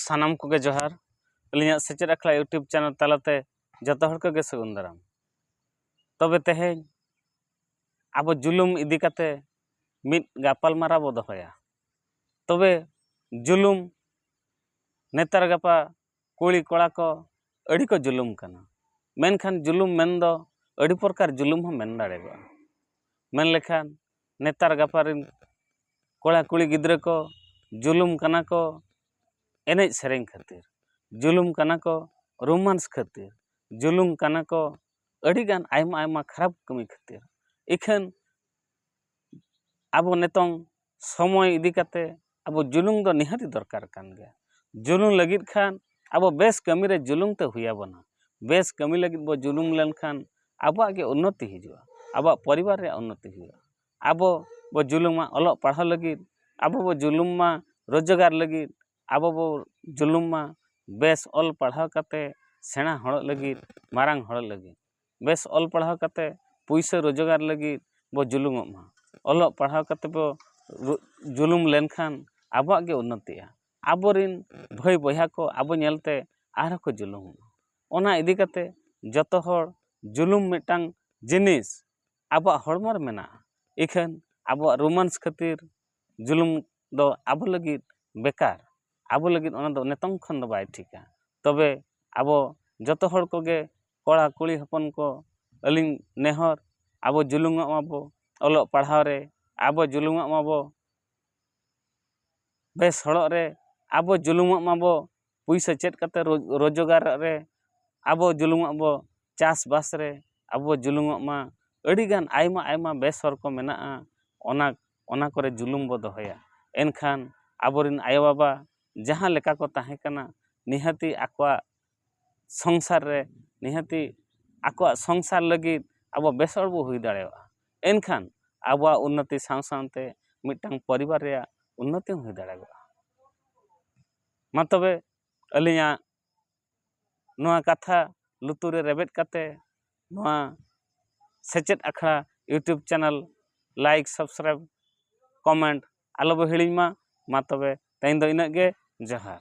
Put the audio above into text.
ᱥᱟᱱᱟᱢ ᱠᱚᱜᱮ ᱡᱚᱦᱟᱨ ᱟᱹᱞᱤᱧᱟᱜ ᱥᱮᱪᱮᱫ ᱟᱠᱷᱲᱟ ᱤᱭᱩᱴᱩᱵᱽ ᱪᱮᱱᱮᱞ ᱛᱟᱞᱟᱛᱮ ᱡᱚᱛᱚ ᱦᱚᱲ ᱠᱚᱜᱮ ᱥᱟᱹᱜᱩᱱ ᱫᱟᱨᱟᱢ ᱛᱚᱵᱮ ᱛᱮᱦᱮᱧ ᱟᱵᱚ ᱡᱩᱞᱩᱢ ᱤᱫᱤ ᱠᱟᱛᱮ ᱢᱤᱫ ᱜᱟᱯᱟᱞᱢᱟᱨᱟᱣ ᱵᱚ ᱫᱚᱦᱚᱭᱟ ᱛᱚᱵᱮ ᱡᱩᱞᱩᱢ ᱱᱮᱛᱟᱨ ᱜᱟᱯᱟ ᱠᱩᱲᱤ ᱠᱚᱲᱟ ᱠᱚ ᱟᱹᱰᱤ ᱠᱚ ᱡᱩᱞᱩᱢ ᱠᱟᱱᱟ ᱢᱮᱱᱠᱷᱟᱱ ᱡᱩᱞᱩᱢ ᱢᱮᱱ ᱫᱚ ᱟᱹᱰᱤ ᱯᱨᱚᱠᱟᱨ ᱡᱩᱞᱩᱢ ᱦᱚᱸ ᱢᱮᱱ ᱫᱟᱲᱮᱭᱟᱜᱼᱟ ᱢᱮᱱ ᱞᱮᱠᱷᱟᱱ ᱱᱮᱛᱟᱨ ᱜᱟᱯᱟ ᱨᱮᱱ ᱠᱚᱲᱟ ᱠᱩᱲᱤ ᱜᱤᱫᱽᱨᱟᱹ ᱠᱚ ᱡᱩᱞᱩᱢ ᱠᱟᱱᱟ ᱠᱚ ᱮᱱᱮᱡ ᱥᱮᱨᱮᱧ ᱠᱷᱟᱹᱛᱤᱨ ᱡᱩᱞᱩᱢ ᱠᱟᱱᱟ ᱠᱚ ᱨᱳᱢᱟᱱᱥ ᱠᱷᱟᱹᱛᱤᱨ ᱡᱩᱞᱩᱢ ᱠᱟᱱᱟ ᱠᱚ ᱟᱹᱰᱤ ᱜᱟᱱ ᱟᱭᱢᱟ ᱟᱭᱢᱟ ᱠᱷᱟᱨᱟᱯ ᱠᱟᱹᱢᱤ ᱠᱷᱟᱹᱛᱤᱨ ᱤᱠᱷᱟᱹᱱ ᱟᱵᱚ ᱱᱤᱛᱚᱝ ᱥᱚᱢᱚᱭ ᱤᱫᱤ ᱠᱟᱛᱮ ᱟᱵᱚ ᱡᱩᱞᱩᱝ ᱫᱚ ᱱᱤᱦᱟᱹᱛ ᱫᱚᱨᱠᱟᱨ ᱠᱟᱱ ᱜᱮᱭᱟ ᱡᱩᱞᱩᱝ ᱞᱟᱹᱜᱤᱫ ᱠᱷᱟᱱ ᱟᱵᱚ ᱵᱮᱥ ᱠᱟᱹᱢᱤ ᱨᱮ ᱡᱩᱞᱩᱝ ᱛᱮ ᱦᱩᱭ ᱟᱵᱚᱱᱟ ᱵᱮᱥ ᱠᱟᱹᱢᱤ ᱞᱟᱹᱜᱤᱫ ᱵᱚ ᱡᱩᱞᱩᱝ ᱞᱮᱱᱠᱷᱟᱱ ᱟᱵᱚᱣᱟᱜ ᱜᱮ ᱩᱱᱱᱚᱛᱤ ᱦᱤᱡᱩᱜᱼᱟ ᱟᱵᱚᱣᱟᱜ ᱯᱚᱨᱤᱵᱟᱨ ᱨᱮᱭᱟᱜ ᱩᱱᱱᱚᱛᱤ ᱦᱩᱭᱩᱜᱼᱟ ᱟᱵᱚ ᱵᱚ ᱡᱩᱞᱩᱝᱟ ᱚᱞᱚᱜ ᱯᱟᱲᱦᱟᱣ ᱞᱟᱹᱜᱤᱫ ᱟᱵᱚ ᱵᱚ ᱡᱩᱞᱩᱝ ᱢᱟ ᱨᱳᱡᱽᱜᱟᱨ ᱞᱟᱹᱜᱤᱫ ᱟᱵᱚ ᱵᱚ ᱡᱩᱞᱩᱝ ᱢᱟ ᱵᱮᱥ ᱚᱞ ᱯᱟᱲᱦᱟᱣ ᱠᱟᱛᱮ ᱥᱮᱬᱟ ᱦᱚᱲᱚᱜ ᱞᱟᱹᱜᱤᱫ ᱢᱟᱨᱟᱝ ᱦᱚᱲᱚᱜ ᱞᱟᱹᱜᱤᱫ ᱵᱮᱥ ᱚᱞ ᱯᱟᱲᱦᱟᱣ ᱠᱟᱛᱮ ᱯᱩᱭᱥᱟᱹ ᱨᱚᱡᱚᱜᱟᱨ ᱞᱟᱹᱜᱤᱫ ᱵᱚ ᱡᱩᱞᱩᱢᱚᱜ ᱢᱟ ᱚᱞᱚᱜ ᱯᱟᱲᱦᱟᱣ ᱠᱟᱛᱮ ᱵᱚ ᱡᱩᱞᱩᱢ ᱞᱮᱱᱠᱷᱟᱱ ᱟᱵᱚᱣᱟᱜ ᱜᱮ ᱩᱱᱱᱚᱛᱤᱜᱼᱟ ᱟᱵᱚ ᱨᱮᱱ ᱵᱷᱟᱹᱭ ᱵᱚᱭᱦᱟ ᱠᱚ ᱟᱵᱚ ᱧᱮᱞ ᱛᱮ ᱟᱨ ᱦᱚᱸ ᱠᱚ ᱡᱩᱞᱩᱢᱚᱜ ᱢᱟ ᱚᱱᱟ ᱤᱫᱤ ᱠᱟᱛᱮ ᱡᱚᱛᱚ ᱦᱚᱲ ᱡᱩᱞᱩᱢ ᱢᱤᱫᱴᱟᱝ ᱡᱤᱱᱤᱥ ᱟᱵᱚᱣᱟᱜ ᱦᱚᱲᱢᱚ ᱨᱮ ᱢᱮᱱᱟᱜᱼᱟ ᱤᱠᱷᱟᱹᱱ ᱟᱵᱚᱣᱟᱜ ᱨᱳᱢᱟᱱᱥ ᱠᱷᱟᱹᱛᱤᱨ ᱡᱩᱞᱩᱢ ᱫᱚ ᱟᱵᱚ ᱞᱟᱹᱜᱤᱫ ᱵᱮᱠᱟᱨ ᱟᱵᱚ ᱞᱟᱹᱜᱤᱫ ᱚᱱᱟ ᱫᱚ ᱱᱤᱛᱚᱝ ᱠᱷᱚᱱ ᱫᱚ ᱵᱟᱭ ᱴᱷᱤᱠᱟ ᱛᱚᱵᱮ ᱟᱵᱚ ᱡᱚᱛᱚ ᱦᱚᱲ ᱠᱚᱜᱮ ᱠᱚᱲᱟ ᱠᱩᱲᱤ ᱦᱚᱯᱚᱱ ᱠᱚ ᱟᱹᱞᱤᱧ ᱱᱮᱦᱚᱨ ᱟᱵᱚ ᱡᱩᱞᱩᱢᱚᱜ ᱢᱟᱵᱚ ᱚᱞᱚᱜ ᱯᱟᱲᱦᱟᱣ ᱨᱮ ᱟᱵᱚ ᱡᱩᱞᱩᱢᱚᱜ ᱢᱟᱵᱚ ᱵᱮᱥ ᱦᱚᱲᱚᱜ ᱨᱮ ᱟᱵᱚ ᱡᱩᱞᱩᱢᱚᱜ ᱢᱟᱵᱚ ᱯᱩᱭᱥᱟᱹ ᱪᱮᱫ ᱠᱟᱛᱮ ᱨᱳᱡᱽᱜᱟᱨ ᱨᱮ ᱟᱵᱚ ᱡᱩᱞᱩᱢᱚᱜ ᱵᱚ ᱪᱟᱥᱵᱟᱥ ᱨᱮ ᱟᱵᱚ ᱡᱩᱞᱩᱢᱚᱜ ᱢᱟ ᱟᱹᱰᱤ ᱜᱟᱱ ᱟᱭᱢᱟ ᱟᱭᱢᱟ ᱵᱮᱥ ᱦᱚᱨ ᱠᱚ ᱢᱮᱱᱟᱜᱼᱟ ᱚᱱᱟ ᱚᱱᱟ ᱠᱚᱨᱮ ᱡᱩᱞᱩᱢ ᱵᱚ ᱫᱚᱦᱚᱭᱟ ᱮᱱᱠᱷᱟᱱ ᱟᱵᱚ ᱨᱮᱱ ᱟᱭᱳ ᱵᱟᱵᱟ ᱡᱟᱦᱟᱸ ᱞᱮᱠᱟ ᱠᱚ ᱛᱟᱦᱮᱸ ᱠᱟᱱᱟ ᱱᱤᱦᱟᱹᱛᱤ ᱟᱠᱚᱣᱟᱜ ᱥᱚᱝᱥᱟᱨ ᱨᱮ ᱱᱤᱦᱟᱹᱛᱤ ᱟᱠᱚᱣᱟᱜ ᱥᱚᱝᱥᱟᱨ ᱞᱟᱹᱜᱤᱫ ᱟᱵᱚ ᱵᱮᱥ ᱦᱚᱲ ᱵᱚ ᱦᱩᱭ ᱫᱟᱲᱮᱭᱟᱜᱼᱟ ᱮᱱᱠᱷᱟᱱ ᱟᱵᱚᱣᱟᱜ ᱩᱱᱱᱚᱛᱤ ᱥᱟᱶ ᱥᱟᱶᱛᱮ ᱢᱤᱫᱴᱟᱝ ᱯᱚᱨᱤᱵᱟᱨ ᱨᱮᱭᱟᱜ ᱩᱱᱱᱚᱛᱤ ᱦᱚᱸ ᱦᱩᱭ ᱫᱟᱲᱮᱭᱟᱜᱼᱟ ᱢᱟ ᱛᱚᱵᱮ ᱟᱹᱞᱤᱧᱟᱜ ᱱᱚᱣᱟ ᱠᱟᱛᱷᱟ ᱞᱩᱛᱩᱨ ᱨᱮ ᱨᱮᱵᱮᱫ ᱠᱟᱛᱮ ᱱᱚᱣᱟ ᱥᱮᱪᱮᱫ ᱟᱠᱷᱲᱟ YouTube channel like subscribe comment ᱟᱞᱚ ᱵᱚ ᱦᱤᱲᱤᱧ ᱢᱟ ᱢᱟ ᱛᱚᱵᱮ ᱛᱮᱦᱮᱧ ᱫᱚ ᱤᱱᱟᱹᱜ ᱜᱮ ᱡᱚᱦᱟᱨ